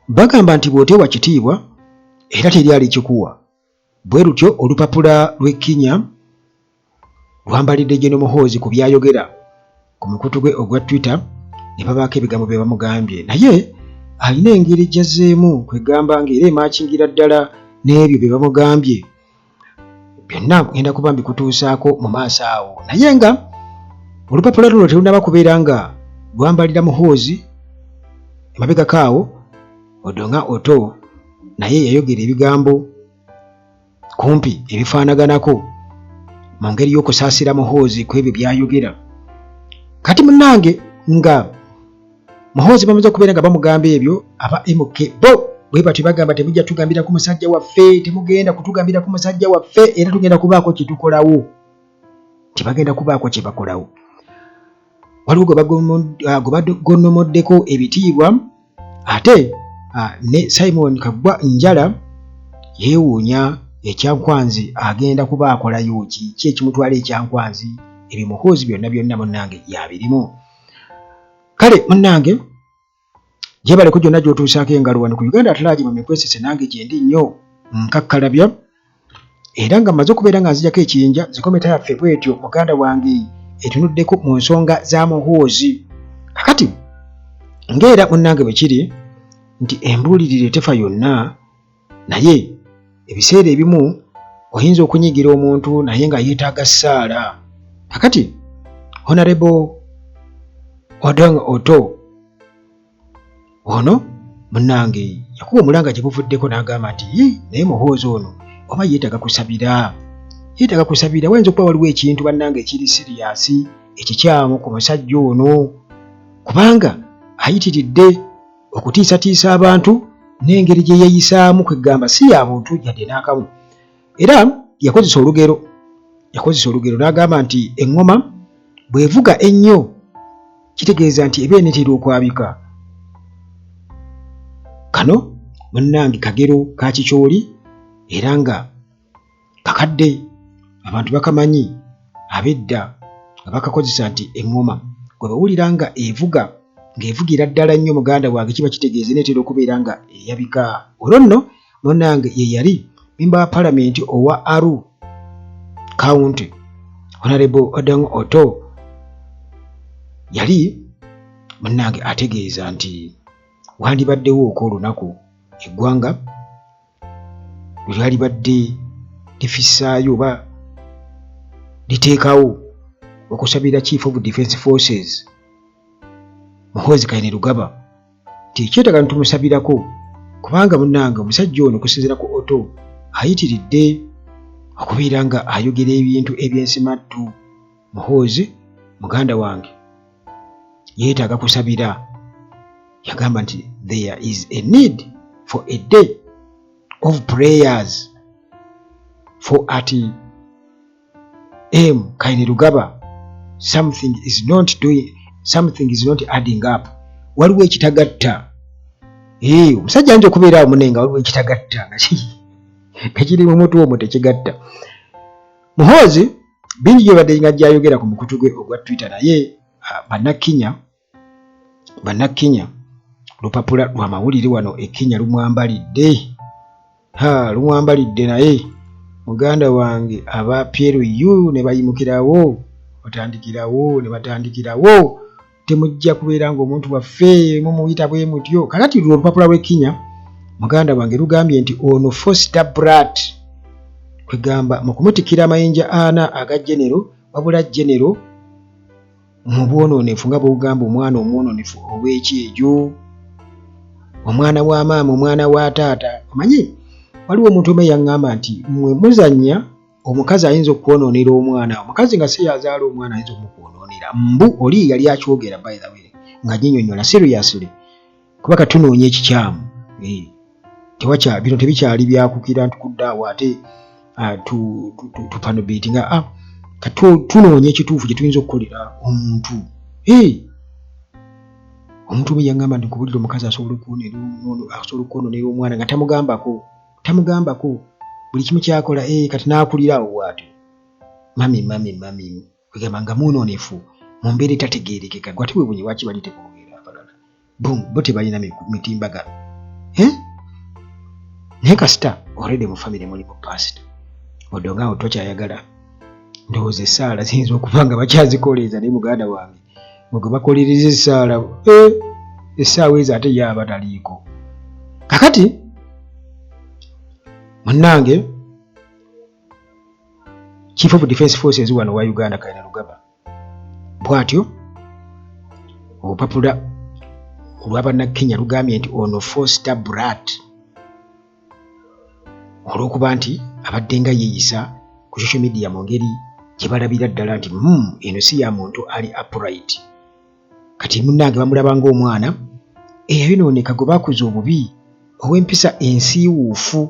bagamba nti bw'oteewa kitiibwa era teri alikikuwa bwe lutyo olupapula lw'ekkinya lwambalidde Gen Muhoozi ku byayogera ku mukutu gwe ogwa Twitter ne babaako ebigambo bye bamugambye naye alina engeri gy'azzeemu kwegamba ng'era emaakingira ddala n'ebyo bye bamugambye byonna ngenda kuba mbikutuusaako mu maaso awo naye nga olupapula luno terunaba kubeera nga lwambalira muhoozi emabegako awo odo nga oto naye yayogera ebigambo kumpi ebifaanaganako mu ngeri y'okusaasira muhoozi ku ebyo byayogera kati munange nga muhoozi bamaze okubeera nga bamugamba ebyo aba mk bo bwe batyo bagamba temujja tugambira ku musajja waffe temugenda kutugambira ku musajja waffe era tugenda kubaako kyetukolawo tebagenda kubaako kyebakolawo waliwo gwe ah, bagonomoddeko ebitiibwa ate ah, ne simon kagwa njala yeewuunya ekyankwanzi agenda kuba akolayo ki ki ekimutwala ekyankwanzi ebyo muhoozi byonna byonna munnange yabirimu kale munange jebaleko gyonna gyotuusaako engalo wano ku uganda atalaagi mu mikwesese nange gyendi nnyo nkakkalabya era nga maze okubeera nga nzijako ekiyinja zikometa yaffe bwetyo muganda wange etunuddeko mu nsonga za muhoozi kakati ngaera munange bwekiri nti embuulirire tefa yonna naye ebiseera ebimu oyinza okunyigira omuntu naye nga yeetaaga ssaala kakati honarebo odong oto ono munange yakuba omulanga gye buvuddeko n'agamba nti naye muhoozi ono oba yeetaaga kusabira yeetaaga kusabira wayinza okuba waliwo ekintu bannange ekiri siriyasi ekikyamu ku musajja ono kubanga ayitiridde okutiisatiisa abantu n'engeri gye yeeyisaamu kweggamba si ya buntu yadde n'akamu era yakozesa olugero yakozesa olugero n'agamba nti eŋŋoma bw'evuga ennyo kitegeeza nti eba enetera okwabika kano munnange kagero ka kikyoli era nga kakadde abantu bakamanyi abedda nga bakakozesa nti eŋŋoma gwe bawulira nga evuga ng'evugira ddala nnyo muganda wange kiba kitegeeza neetera okubeera nga eyabika olwo nno munange ye yali memba wa palamenti owa aru county honarebo odong oto yali munange ategeeza nti wandibaddewo okw'olunaku eggwanga bwe lyalibadde lifissaayo oba liteekawo okusabira chief of defense forces muhoozi kaine lugaba nti ekyetaga nitumusabirako kubanga munange omusajja ono okusinzira ku oto ayitiridde okubeera nga ayogera ebintu eby'ensimattu muhoozi muganda wange yeetaaga kusabira yagamba nti there is a need for a day of prayers for at m kaine lugaba something is not doing something is not adding up waliwo ekitagatta ee eh, omusajja ayinza okubeera awo munenga waliwo ekitagatta nga kiri mu mutu omwo tekigatta Muhoozi bingi gyebadde nga gyayogera ku mukutu gwe ogwa Twitter naye ah, bannakkinya bannakkinya lupapula lwa mawulire wano ekkinya lumwambalidde ha lumwambalidde naye muganda wange aba pyeru yu ne bayimukirawo batandikirawo ne batandikirawo temujja kubeera ng'omuntu waffe mumuyita bwe mutyo kakati lwe olupapula lw'ekkinya muganda wange lugambye nti ono foster brat kwegamba mu kumutikira amayinja ana aga genero wabula genero mu bwonoonefu nga bwogamba omwana omwononefu ow'ekyejo omwana wa maama omwana wa taata omanyi waliwo omuntu omu eyaŋŋamba nti mwe muzannya omukazi ayinza okwonoonera omwana omukazi nga si yazaala omwana ayinza omukwonoonera mbu oli yali akyogera by the way nga nyinyonyola seriously kuba katunoonya ekikyamu eh, tewakya bino tebikyali byakukira ntukuddeawo ate ah, tupanobeti nga ah, tunoonya ekituufu kyetuyinza okukolera omuntu eh, omuntu omu yagamba nti nkubulira omukazi asobola okwonoonera omwana nga tamugambako tamugambako buli kimu kyakola ee eh, kati n'akulira awo waatyo mami mami mami kwegamba nga mwononefu mu mbeera etategeerekeka gwate webunye lwaki bali tekwogera abalala bum bo tebalina mitimbagano eh? naye kasita oredi mu famire mulimu pasita odonga awo tokyayagala ndowooza esaala ziyinza okuba nga bakyazikoleeza naye muganda wange nga gwe bakolereza essaala eh, essaawa ezo ate ye aba taliiko kakati munnange chief of defense forces wano wa uganda kaina lugaba bwatyo obupapula olwabannakenya lugambye nti ono foster brat olw'okuba nti abadde nga yeeyisa ku social media mu ngeri gye balabira ddala nti mm, eno si ya muntu ali upright kati munnange bamulaba ng'omwana eyayonooneka gwe bakuza obubi ow'empisa ensiiwuufu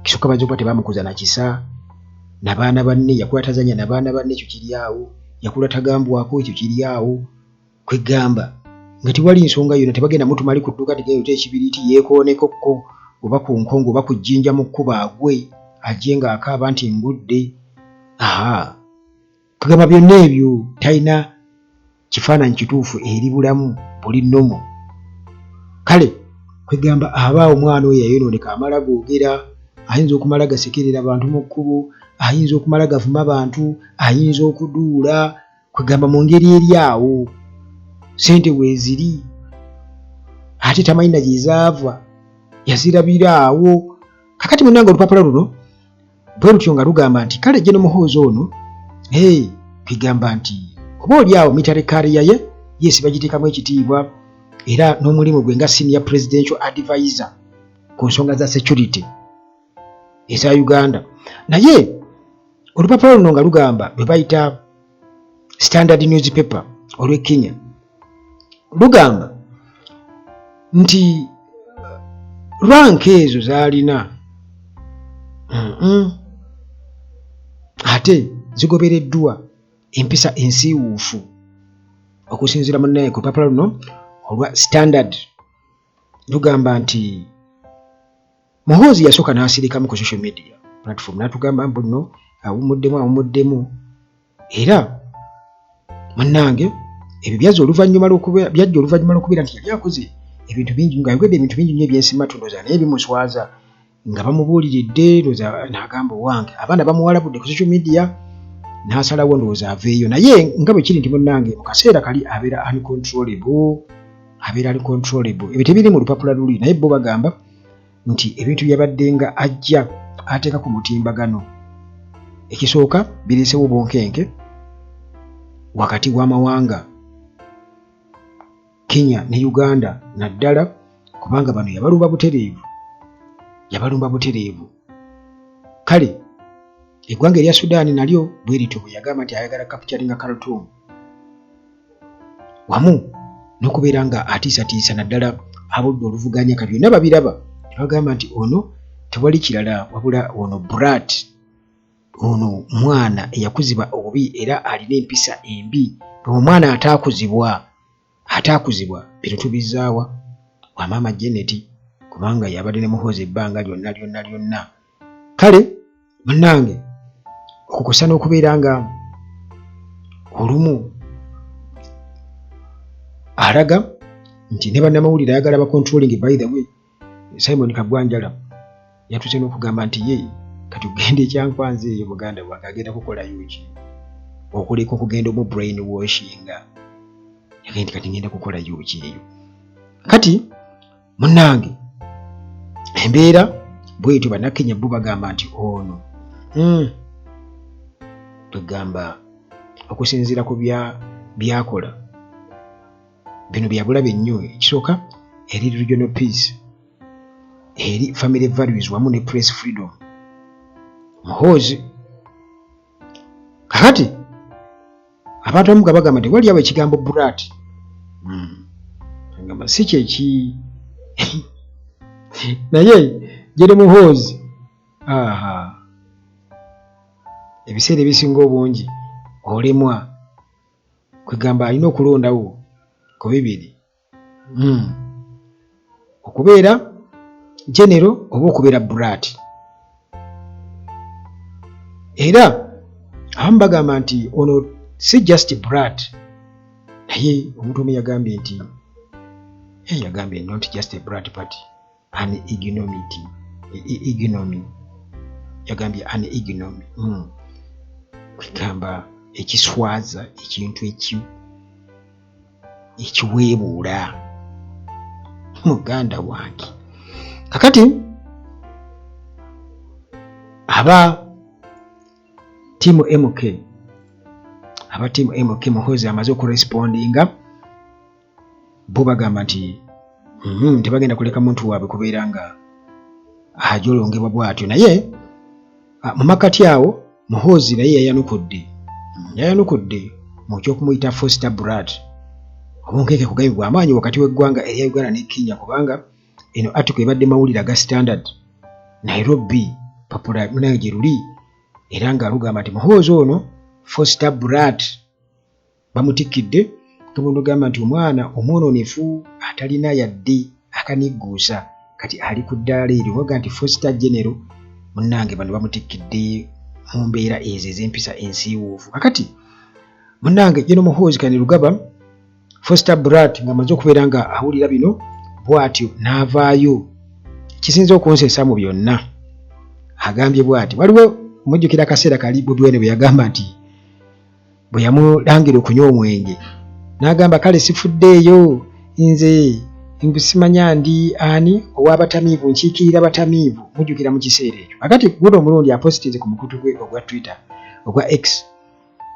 kisooka bayinza okuba tebamukuza na kisa na baana banne yakula tazanya na baana banne ekyo kiri awo yakula tagambwako ekyo kiri awo kwegamba nga tewali nsonga yona tebagenda mutu mali kudduka tigayote ekibiriti yekooneko ko oba ku nkongo oba ku jjinja mu kkuba agwe ajje nga akaaba nti ngudde aha kwegamba byonna ebyo talina kifaananyi kituufu eri bulamu buli nomu kale kwegamba aba omwana oyo yayonooneka amala googera ayinza okumala gasekerera bantu mu kkubo ayinza okumala gavuma bantu ayinza okuduula kwegamba mu ngeri eri awo sente weeziri ate tamanyi na gyezaava yazirabira awo kakati munanga olupapula luno bwe lutyo nga lugamba nti kale jeno muhoozi ono hey, kwegamba nti oba oli awo mitare kariya ye yesi bagiteekamu ekitiibwa era n'omulimu gwe nga senior presidential advisor ku nsonga za security eza Uganda naye olupapula luno nga lugamba lwe bayita standard newspaper olw'e Kenya lugamba nti ranka ezo zaalina ate zigobereddwa empisa ensiiwuufu okusinziira munnaye ku lupapula luno olwa standard lugamba nti Muhoozi yasooka n'asirikamu ku social media platform n'atugamba mbu nno awummuddemu awummuddemu era munnange ebyo byazza oluvannyuma lwokuba byajja oluvannyuma lw'okubeera nti yali akoze ebintu bingi nga ayogedde ebintu bingi nnyo ebyensima tundoza naye bimuswaza nga bamubuuliridde ndoza n'agamba owange abaana bamuwalabudde ku social media n'asalawo ndowooza aveeyo naye nga bwe kiri nti munnange mu kaseera kali abeera uncontrollable abeera ali controllable ebyo tebiri mu lupapula luli naye bo bagamba nti ebintu byabaddenga ajja ateeka ku mutimbagano ekisooka bireesewo obunkenke wakati w'amawanga Kenya ne Uganda naddala kubanga bano yabalumba butereevu yabalumba butereevu kale eggwanga erya Sudan nalyo bwerityo bwe yagamba nti ayagala kapitali nga Khartoum wamu n'okubeera nga atiisatiisa naddala abudde oluvuganya ka byonna babiraba ne bagamba nti ono tewali kirala wabula ono brat ono mwana eyakuzibwa obubi era alina empisa embi omwana ataakuzibwa ataakuzibwa bino tubizaawa wa maama jeneti kubanga yabadde ne muhoozi ebbanga lyonna lyonna lyonna kale munange okukusa n'okubeera nga olumu alaga nti ne bannamawulire ayagala bacontrolling by the way simon kagwanjala yatuse n'okugamba nti ye kati okugenda ekyankwanza eyo muganda wange agenda kukolayo ki okuleka okugenda omu brain washinga yagenda kati ngenda kukolayo ki eyo kati munange embeera bwetyo banakenya bo bagamba nti ono hmm, twegamba okusinziira ku byakola bino byabulabe nnyo ekisooka eri regional peace eri family values wamu ne press freedom muhoozi kakati abantu abamu nga bagamba nti waliyawo ekigambo burat hmm. agamba si kyeki naye jere muhoozi aha ebiseera ebisinga obungi olemwa kwegamba alina okulondawo ku bibiri hmm. okubeera genero oba okubeera brat era abamu bagamba nti ono si just brat naye omuntu omu yagambye nti yagambye not just a brat party an ignomity e, e, ignomy yagambye an ignomy hmm. kwegamba ekiswaza ekintu eki ekiweebuula muganda wange kakati aba tiimu mk aba tiimu mk muhozi amaze okurespondinga bo bagamba nti mm, tebagenda kuleka muntu waabwe kubeera nga ajolongebwa bwatyo naye ah, mu makati awo muhoozi naye yayanukudde yayanukudde mu kyokumuyita foster brat obunkenke kugambye bwamaanyi wakati w'eggwanga erya uganda ne kenya kubanga eno article ebadde mawulire aga standard nairobi papula munayo gye luli era nga lugamba nti muhoozi ono foster brat bamutikkidde kabondo gamba nti omwana omwononefu atalina yadde akanigguusa kati ali ku ddaala eryo waga nti fosta genero munnange bano bamutikkidde mu mbeera ezo ez'empisa ensiiwuufu kakati munnange geno muhoozi kani lugaba fosta brat nga amaze okubeera nga awulira bino bwatyo n'avaayo kisinza okunsesa mu byonna agambye bwati waliwo mujjukira akaseera kali budwene bwe yagamba nti bwe yamulangira okunywa omwenge n'agamba kale sifuddeeyo nze ngusimanya ndi ani ow'abatamiivu nkiikirira batamiivu mujjukira mu kiseera ekyo kakati guno omulundi apositize ku mukutu gwe ogwa twitter ogwa x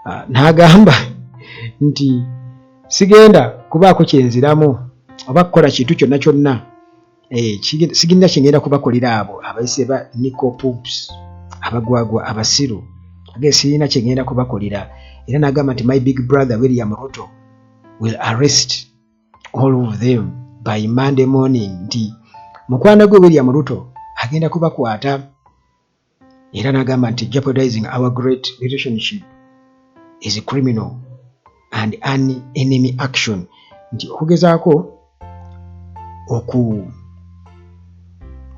ah, n'agamba nti sigenda kubaako kyenziramu oba kukola kintu kyonna kyonna eh, sigirina kyengenda kubakolera abo abayise ba nico pumps abagwagwa abasiru age sirina kyengenda kubakolera era nagamba nti my big brother william ruto will arrest all of them by monday morning nti mukwano gwe william ruto agenda kubakwata era n'agamba nti jeopardizing our great relationship is criminal and an enemy action nti okugezaako oku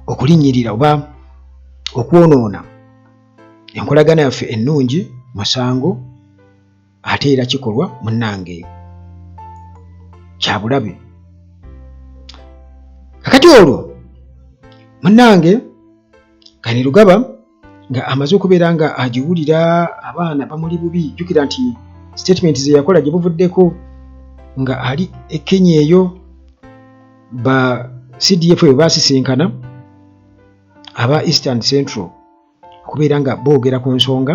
okulinnyirira oba okwonoona enkolagana yaffe ennungi musango ate era kikolwa munange kyabulabe kakati olwo munange kani lugaba nga amaze okubeera nga agiwulira abaana bamuli bubi jukira nti statement zeyakola gyebuvuddeko nga ali ekenya eyo ba cdf ebyo basisinkana aba eastern central okubeera nga boogera ku nsonga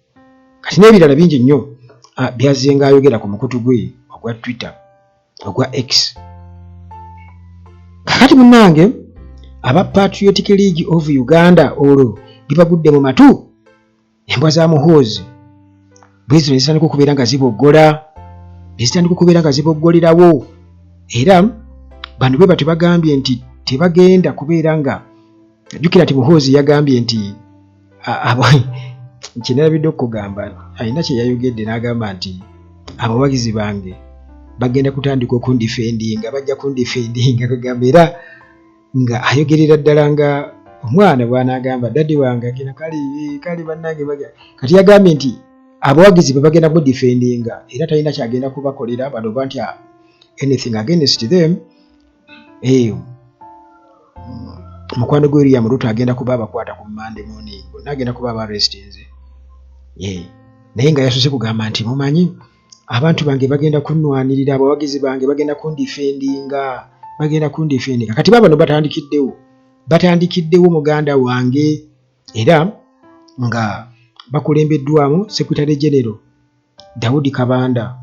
kati n'ebirala bingi nnyo ah, byazzenga ayogera ku mukutu gwe ogwa twitter ogwa x kakati munnange aba patriotic league of uganda olwo bibagudde mu matu embwa za muhoozi bwezo nezitandika okubeera nga ziboggola nezitandika okubeera nga ziboggolerawo era bano bwe batyo bagambye nti tebagenda kubeera nga jjukira nti muhoozi yagambye nti kinalabidde okugamba alina kyeyayogedde n'agamba nti abawagizi bange bagenda kutandika okundifendinga bajja kundifendinga kagamba era nga ayogerera ddala nga omwana bwanagamba dadi wange agenda kale kale bannange kati yagambye nti abawagizi be bagenda mudifendinga era talina kyagenda kubakolera bano bantya anything against them eyo mukwano gwe eriya muruto agenda kuba abakwata ku mande moni bonna agenda kuba aba restinze naye nga yasose kugamba nti mumanyi abantu bange bagenda kunwanirira abawagizi bange bagenda kundifendinga bagenda kundifendinga kati babano batandikiddewo batandikiddewo muganda wange era nga bakulembeddwamu secretary genero Daudi Kabanda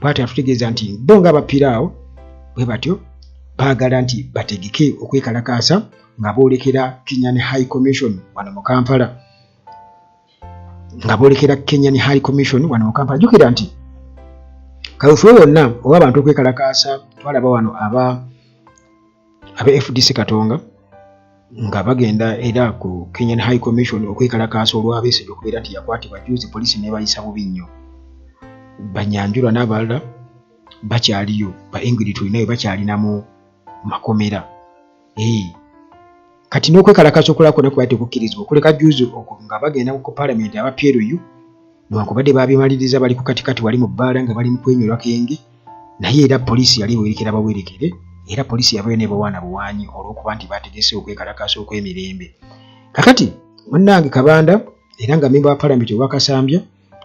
bwati atutegeeza nti bo nga bapiraawo bwe batyo baagala nti bategeke okwekalakaasa nga boolekera Kenyan High Commission wano mu Kampala nga boolekera Kenyan High Commission wano mu Kampala jukira nti kawefube wonna oba abantu okwekalakaasa twalaba wano aba aba fdc katonga nga bagenda era ku kenyan high commission okwekalakaasa olwabesigye okubeera nti yakwatibwa juzi poliisi nebayisa bubi nnyo banyanjulwa n'abalala bakyaliyo ba engrid tulinayo bakyalina mu makomera ee kati n'okwekalakaasa okulala kwona kubaate okukkirizibwa okuleka juzi nga bagenda ku palamenti aba plu newankubadde baabimaliriza bali ku katikati wali mu bbaala nga bali mu kwenyolwa kenge naye era poliisi yali ewerekera bawerekere era poliisi yabayo nebawaana buwaanyi olw'okuba nti baategese okwekalakaasa okw'emirembe kakati munnange kabanda era nga memba wa palamenti owa kasambya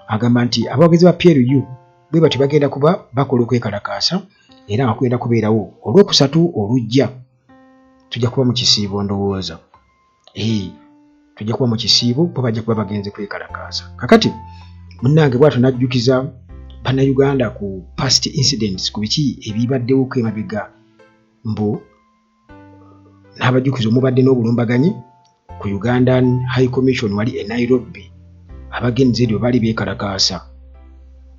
agamba nti abawagizi ba plu bwe batyo bagenda kuba bakola okwekalakaasa era nga kugenda kubeerawo olwokusatu olujja tujja kuba mu kisiibo ndowooza Hey, tujja kuba mu kisiibo bo bajja kuba bagenze kwekalakaaza kakati munnange bwatyo najjukiza bannayuganda ku past incidents ku biki ebibaddewoko emabega mbu n'abajjukiza omubadde n'obulumbaganyi ku ugandan high commission wali e nairobi abagenzi ebyo baali beekalakaasa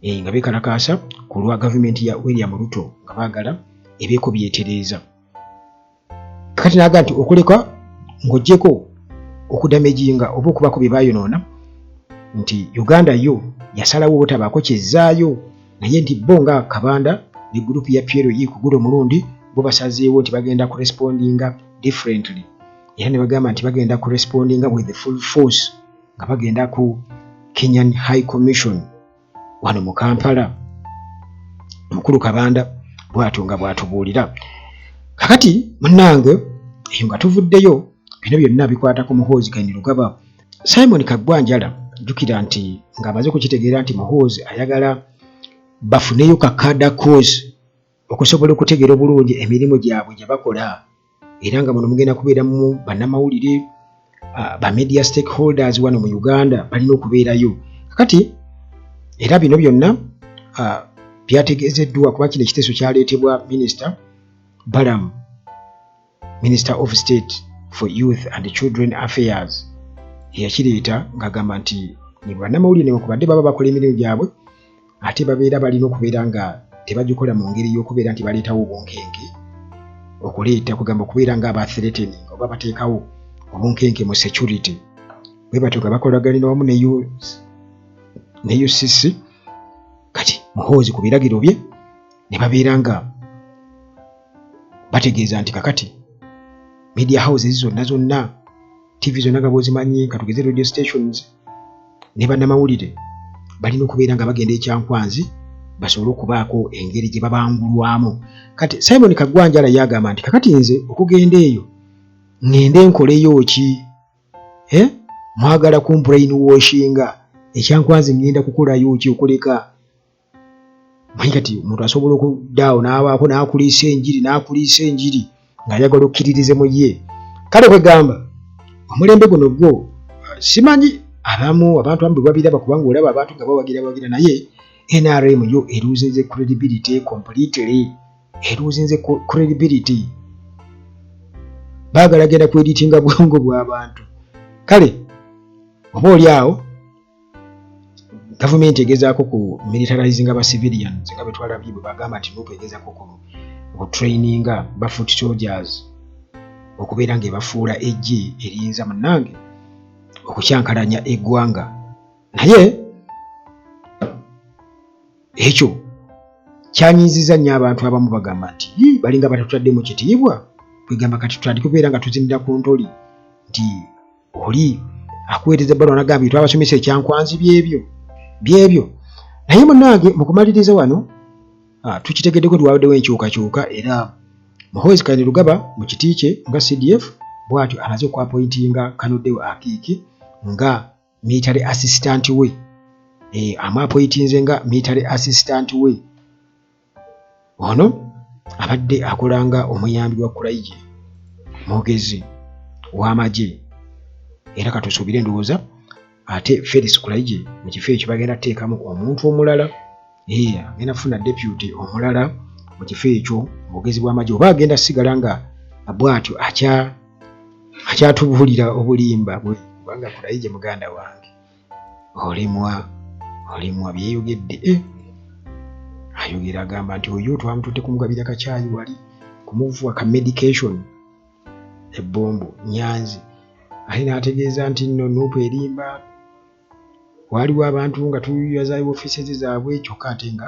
e, nga beekalakaasa ku lwa gavumenti ya william ruto nga baagala ebeeko byetereeza kati naga nti okuleka ng'ogyeko okudamejinga oba okubako bye bayonoona nti uganda yo yasalawo obutabaako kyezzaayo naye nti bo nga kabanda ne gurupu ya piero yi ku gulo omulundi bo basazeewo nti bagenda ku respondinga differently era ne bagamba nti bagenda ku respondinga with the full force nga bagenda ku kenyan high commission wano mu kampala mukulu kabanda bwatyo nga bwatubuulira kakati munange eyo nga tuvuddeyo bino byonna bikwata ku muhoozi kaini lugaba simon kaggwa njala jjukira nti ng'amaze okukitegeera nti muhoozi ayagala bafuneyo kakada cause okusobola okutegeera obulungi emirimu gyabwe gye bakola era nga muno mugenda kubeeramu bannamawulire ba media stakeholders wano mu uganda balina okubeerayo kakati era bino byonna byategeezeddwa kuba kino ekiteeso kyaleetebwa minisita balamu minister of state for youth and children affairs eyakireeta ng'agamba nti nebannamawulire newakubadde baba bakola emirimu gyabwe ate babeera balina okubeera nga tebagikola mu ngeri y'okubeera nti baleetawo obunkenke okuleeta kugamba okubeera nga abathereteni oba bateekawo obunkenke mu security bwe batyo nga bakolaganira wamu ne ucc kati muhoozi ku biragiro bye ne babeera nga bategeeza nti kakati media houses zonna zonna ttivi zonna nga bwozimanyi ka tugeze radio stations ne bannamawulire balina okubeera nga bagenda ekyankwanzi basobole okubaako engeri gye babangulwamu kati simon kagwanjala yagamba nti kakati nze okugenda eyo ŋŋende nkoleyo ki eh? mwagala kumbrain washinga ekyankwanzi ŋŋenda kukolayo ki okuleka manyi kati omuntu asobola okuddaawo n'abaako n'akuliisa enjiri n'akuliisa enjiri ng'ayagala okkiririze mu ye kale kwegamba omulembe guno gwo simanyi abamu abantu amu bwebabiraba kubanga olaba abantu nga bawagira bawagira naye nrm yo eruuzinze credibility completely eruuzinze credibility baagala genda kweditinga bwongo bw'abantu kale oba oli awo gavumenti egezaako ku militarizing aba civilian nga betwalabye bwe bagamba nti nup egezaako ku otraininga ba foot soldiers okubeera nga ebafuula eggi eriyinza munange okukyankalanya eggwanga naye ekyo kyanyiiziza nnyo abantu abamu bagamba nti balinga batatutadde mu kitiibwa kwegamba kati tutandike okubeera nga tuzinira ku ntoli nti oli akuweereza ebbaluwa anagambye twabasomesa ekyankwanzi byebyo byebyo naye munange mukumaliriza wano ah, tukitegeddeko tiwabaddewo enkyukakyuka era muhoozi kayini lugaba mu kiti kye nga cdf bwatyo amaze okwapointinga kanodewo akiiki nga military assistant we eh, amwapoitinze nga military assistant we ono abadde akola nga omuyambi wa kulaije mwogezi w'amagye era katusuubire endowooza ate felix kulaije mu kifo ekyo bagenda kuteekamu omuntu omulala eya agenda kufuna deputy omulala mu kifo ekyo mwogezi bw'amagye oba agenda sigala nga bwatyo akyatubuulira obulimba kubanga kulaije muganda wange olemwa olemwa byeyogedde eh! ayogera agamba nti oyo twamutute kumugabira kakyayi wali kumuvuwa ka medication ebbombo nyanzi ali n'ategeeza nti nno nuupu erimba waaliwo abantu nga tuyazayo ofiisezi zaabwe kyokka ate nga